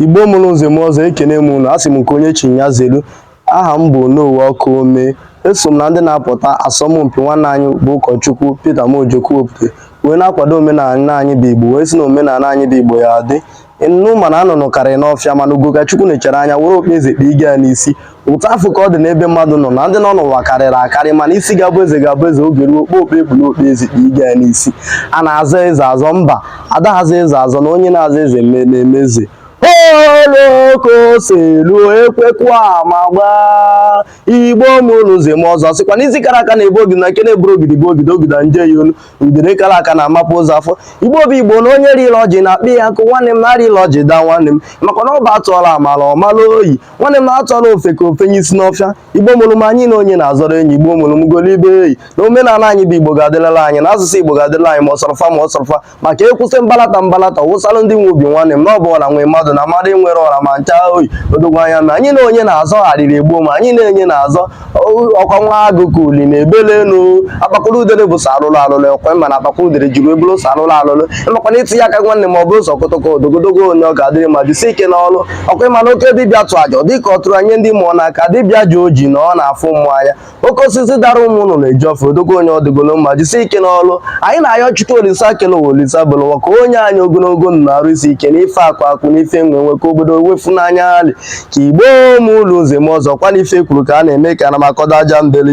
igbo mụrụ nze mụọ ọzọ ekene m unu asị m nke onye chi ya zelu aha m bụ Onowu Ọkaome eso m na ndị na-apụta asọmpi nwanne anyị bụ ụkọchukwu Peter Mojoku wepụta wee na-akwado omenala anyị bụ igbo wee si na omenala anyị bụ igbo ya adị nnu mana nnụnụ karịrị n'ọfịa mana ugo ka chukwu nechara anya were okpu eze kpa ige ya n'isi otu afụ ka ọ dị n'ebe mmadụ nọ na ndị nọ n'ụwa karịrị akarị mana isi ga-abụ eze ga-abụ eze oge ruo okpu okpu e kpuru okpu eze kpa ige ya n'isi a na-azọ eze azọ mba adaghị azọ eze azọ na onye na-azọ eze na-eme eze olokoselu ekwekwa ma gbaa igbo mụrụ nze mụọ ọzọ sịkwa na isi kara aka na-ebu ogidi na nke na-eburu ogidi bụ ogidi ogida nje ya olu udere kara aka na-amapu ozu afọ igbo bụ igbo na onye rị elu ọjị nya kpaa ya nkụ nwanne m na-arị elu ọjị daa nwanne m maka na ọ bụ atụọla ọmala ọ mala oyi nwanne m na atụọla ofeke o fenye isi n'ọfịa igbo mụrụ m anyị na onye na-azọrọ enyi igbo mụrụ m golibe eyi na omenala anyị bụ igbo ga-adịlala anyị na asụsụ igbo ga-adịlala anyị ma ọ sọrọ fa ma ọ sọrọ fa maka ekwụsị mbalata mbalata wụsalụ ndị nwe obi nwanne m na ọ bụ ọra nwe mmadụ na mmadụ enwerọ ọra ma ncha oyi odogwu anya ma anyị na onye na-azọ arịrị egbuo m anyị na onye na-azọ ọ kwa nwa agụ ka uli na-ebele elu akpakọrọ udere bụ sọ alụlụ alụlụ ekwe mana akpakọ udere jiri ebulu sọ alụlụ alụlụ ị makwa na itinye aka nwanne ma ọ bụ ụzọ kotoko odogwu odogwu onye ọ ga-adịrị mma jisie ike n'ọlụ ọ kwa ị ma na oke dibịa tụọ aja ọ dịka ọ tụrụ nye ndị mmụọ n'aka dibịa ji oji na ọ na-afụ mmụọ anya oke osisi dara ụmụ nnụnụ eju ọfịa odogwu onye ọ dịgolu mma jisie ike n'ọlụ anyị na-ayọ chukwu olisa kele ụwa olisa bulu ụwa ka o nye anyị ogologo ndụ na arụ isi ike na ife akụ akụ na ife enwe enwe ka obodo wefu n'anya alị Igbo mụlụ nze mụọ ọzọ kwa na ife kwuru ka a na-eme ka a na-amakọdo aja mbele